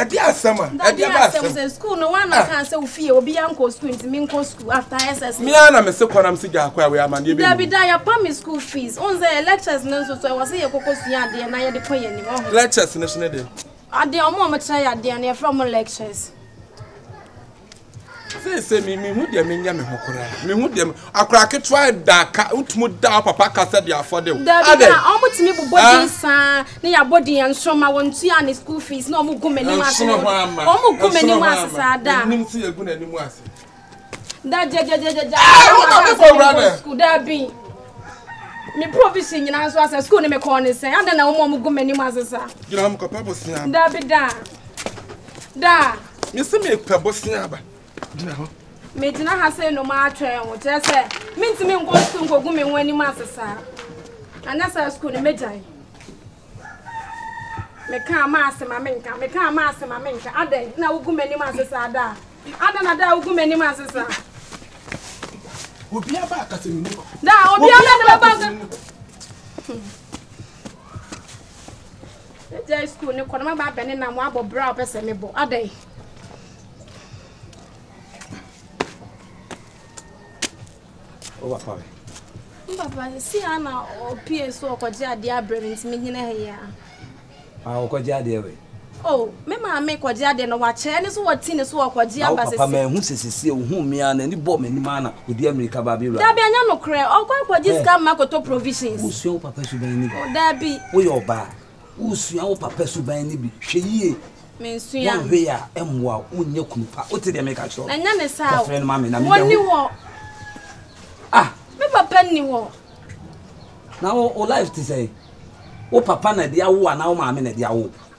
ɛdi asɛm a ɛdi ɛbɛ asɛm sɛ sukuu no wɔn anaka ah. sɛ ofie obi ya nkɔ sukuu nti mi nkɔ sukuu after ss. mi ara na mi se kɔ na mi se gya akɔ a wei ama ne ebe. dabi da yɛ pa mi school fees o n sɛ yɛ lectures ne nso so ɛwɔ sɛ yɛ koko sua adeɛ na yɛ de kɔ yɛ anim ɔho. lectures ne so ne de. adeɛ ɔmo ɔmo kyerɛ yɛ adeɛ no yɛ fɛ ɔmo lectures. sɛ sɛ mehu deɛ menyɛ me ho koraa mehu deɛ akora ketewa da ka wotumi da wo papa kasa de afɔde wo adɛ ɔmotumi bobɔ din saa ne yɛabɔ din yɛ nsoro ma wɔntua ne school fees na ɔmo gu m'anim ase ɔmo gu m'anim ase saa da nim sɛ yɛgu n'anim ase da gyagyagyagyagya school da bi me provision nyinaa nso asɛ school ne mekɔɔ ne sɛn adɛn na wɔma ɔmo gu m'anim ase saa gyina hɔ mekɔpɛ bosea da bi da da Me se me pɛ bosea aba. Gyina hɔ. Me gyina ha sɛ enuma atwɛn wo. Kyerɛ sɛ me ntumi nkɔ sukuu nkogu me ho anim ase saa. Anyɛ saa sukuu no me gyan. Me ka ama ase ma me nka. Me ka ama ase ma me nka. Adɛn na wogu m'anim ase saa daa. Adɛn na daa wogu m'anim ase saa. Obi aba akasa mi mu. Daa obi aba na bɛba. Megyae sukuu no kɔ na maba abɛne na mo abɔ bra a ɔpɛ sɛ mebɔ adɛn. Ɔba pa mi. Papa si ha na ɔpie so ɔkɔgye adeɛ abrɛ mi nti mi gyina ha yi a. A ah, ɔkɔgye adeɛ wɛ. O oh, me maame kɔgye adeɛ na wakyɛ ɛne so wɔti ne so ɔkɔgye aba sisi. Papa mɛ hu sisi si ohun mi a n'ani bɔ m'anim ana. Odi amirika ba abewura. Dabi ɛnyɛ nokorɛ ɔkɔ akɔgye sika mma kɔtɔ provisions. Wosua wo papa suban no bi. Dabi. Woyɛ ɔbaa wosua wo papa suban no bi hwɛ yie. Mensua. Wonhwɛ yie a ɛmmoa wo wonyɛ kunu pa wote deɛ meka kyerɛ wo. Ɛnyɛ ne saa o. Kɔfrɛ no ma me na mebɛhu. Wɔnni hɔ. Ah. Me papa nni hɔ. Na wo life te sɛn? Wo papa na ɛde awo wo anaa wo maame na ɛde awo wo?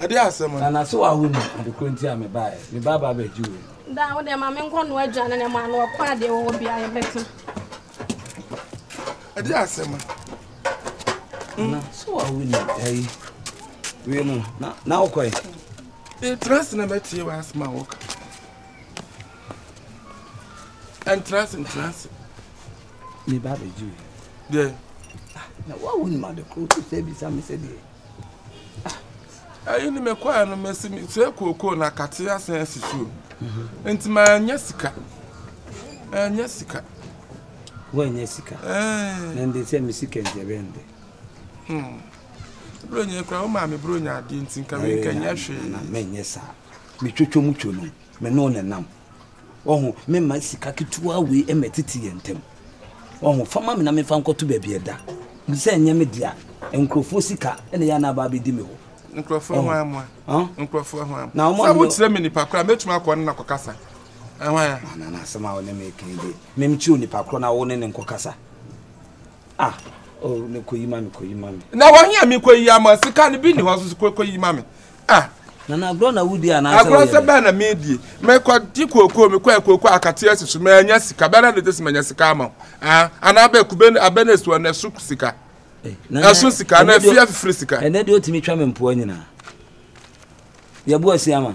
ɛde asɛm no. Nana so awo ni ade koro nti a me ba ɛ me ba ba bɛ ji wei. Da wo de ma me nkɔ no adwane na ma no ɔkɔ ade wɔ bi ayɛ bɛte. Ɛde asɛm. Na so awo ni ɛyi wei no na na ɔkɔ ɛ. E trust na bɛ tie wa asma wɔka. And trust and trust. Me ba bɛ Julie. Deɛ. Ah, na wa wo nim ade koro to sɛ bisa me sɛ deɛ. Ah. Ɛyi ni me kɔɛ no me si me sɛ kookoo na kate asan asi so. Mhm. Nti ma ɛnyɛ sika. Ɛnyɛ sika. Wo ɛnyɛ sika. Ɛɛ. Na nde sɛ me sika nti ɛbɛ nde. Hmm. Bro nyɛ kura wo maa me bro nyɛ adeɛ nti nka wei nka nyɛ hwee. Na mɛ nyɛ saa. Me twotwo mu two no me no ne nam. Wahu? Memma sika ketewa wei mmɛtete yɛn ntam. Wahu? Fa ma me na memfa nkɔto baabi a ɛda. Sɛ ɛnyɛ me dea, nkurɔfoɔ sika na ɛyɛ a na aba abɛdi me hɔ. Nkurɔfoɔ Wahu? hwan mmoa? Huh? Nkurɔfoɔ hwan Na mmoa? wɔn Sɛ ɔne me wokyerɛ me nipa korɔ a, mɛtumi akɔ ɔne no akɔkasa. Ɛhwan a? Na na na asɛm a wo ne me reka yi deɛ, memkyerɛ onipa korɔ na wo ne no nkɔkasa. Ah, oh, me kɔ yi ma me, kɔ yi ma me. Na wɔn yɛ me kɔ yi ama sika no bi ni hɔ so kɔ kɔ yi ma me. Ah. Na na agorɔ na wudi anaasɛ wɔyɛ. Agorɔ sɛ bɛn na mi di. Mɛ kɔ di kooko mi kɔ kooko akateɛ si so mɛ anya sika bɛn na ne de si mɛ anya sika ama o. Ah, ana abɛ kube abɛ na esu na esu sika. Eh, ɛso sika na efi afifiri sika. Ɛnɛ de otumi twa me mpoa nyinaa. Yɛbu asia ma.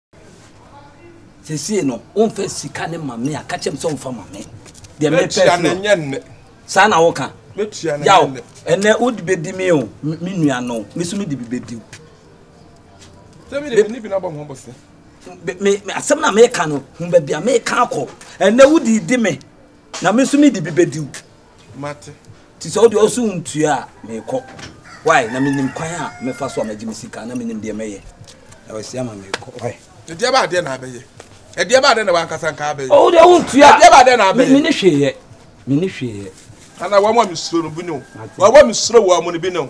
sesie no womfa sika ne ma me a ka kyerɛ me sɛ womfa ma me deɛ mepɛ saa na woka yaw ɛnɛ wode bɛdi me o me nua no me so mede bi bɛdi asɛm na meka no hu baabi a meka akɔ ɛnɛ wode di me na me so mede bi bɛdi Mate. Nti sɛ wodeɛ ɔse wontua a, meekɔ. Why? Na menim kwan a mɛfa so a magye me sika, na menim deɛ mɛyɛ. Na wasi ama meekɔ. Why? Ɛdeɛ bɛɛ a deɛ na abɛyɛ. Ɛdeɛ bɛɛ a deɛ na wankasa nka abɛyɛ. Oh, wodeɛ wontua. Ɛdeɛ bɛɛ a deɛ na abɛyɛ. Mene hwee yɛ. Mene hwee yɛ. Ana wɔn a mesuro no bi ne wo. Wɔn a mesuro wɔn no bi ne wo.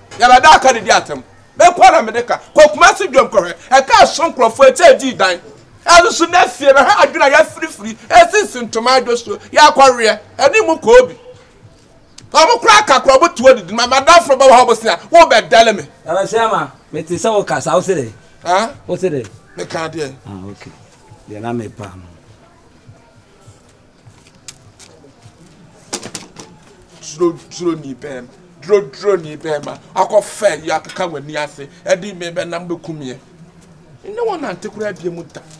Yɛbɛda aka de di atam. Me nko na mede ka. Kɔ Kumasi dwam kɔhwɛ. Ɛka ɛso nkurɔfoɔ ɛkyɛ ɛdii dan. Ɛno so na fie no ha adwene a yɛafirifiri ɛsisi ntoma adwo so yɛakɔweɛ ɛne mu kɔɔ bi. Wɔn koraa ka koraa wɔn tuo didi ma madamfo bɛwɔ hɔ bosea wo bɛ dɛle me. Ɛna sɛ ama me te sɛ wo kasa wo se dɛ. Ah? Wo se dɛ. Me ka deɛ. Ah okay. Deɛ na me pa no. Turoduroni bɛrima, turoduroni bɛrima, akɔfa yi akeka w'ani ase de me bɛnam bɛku meɛ. Nne wo nante koraa bie mu da.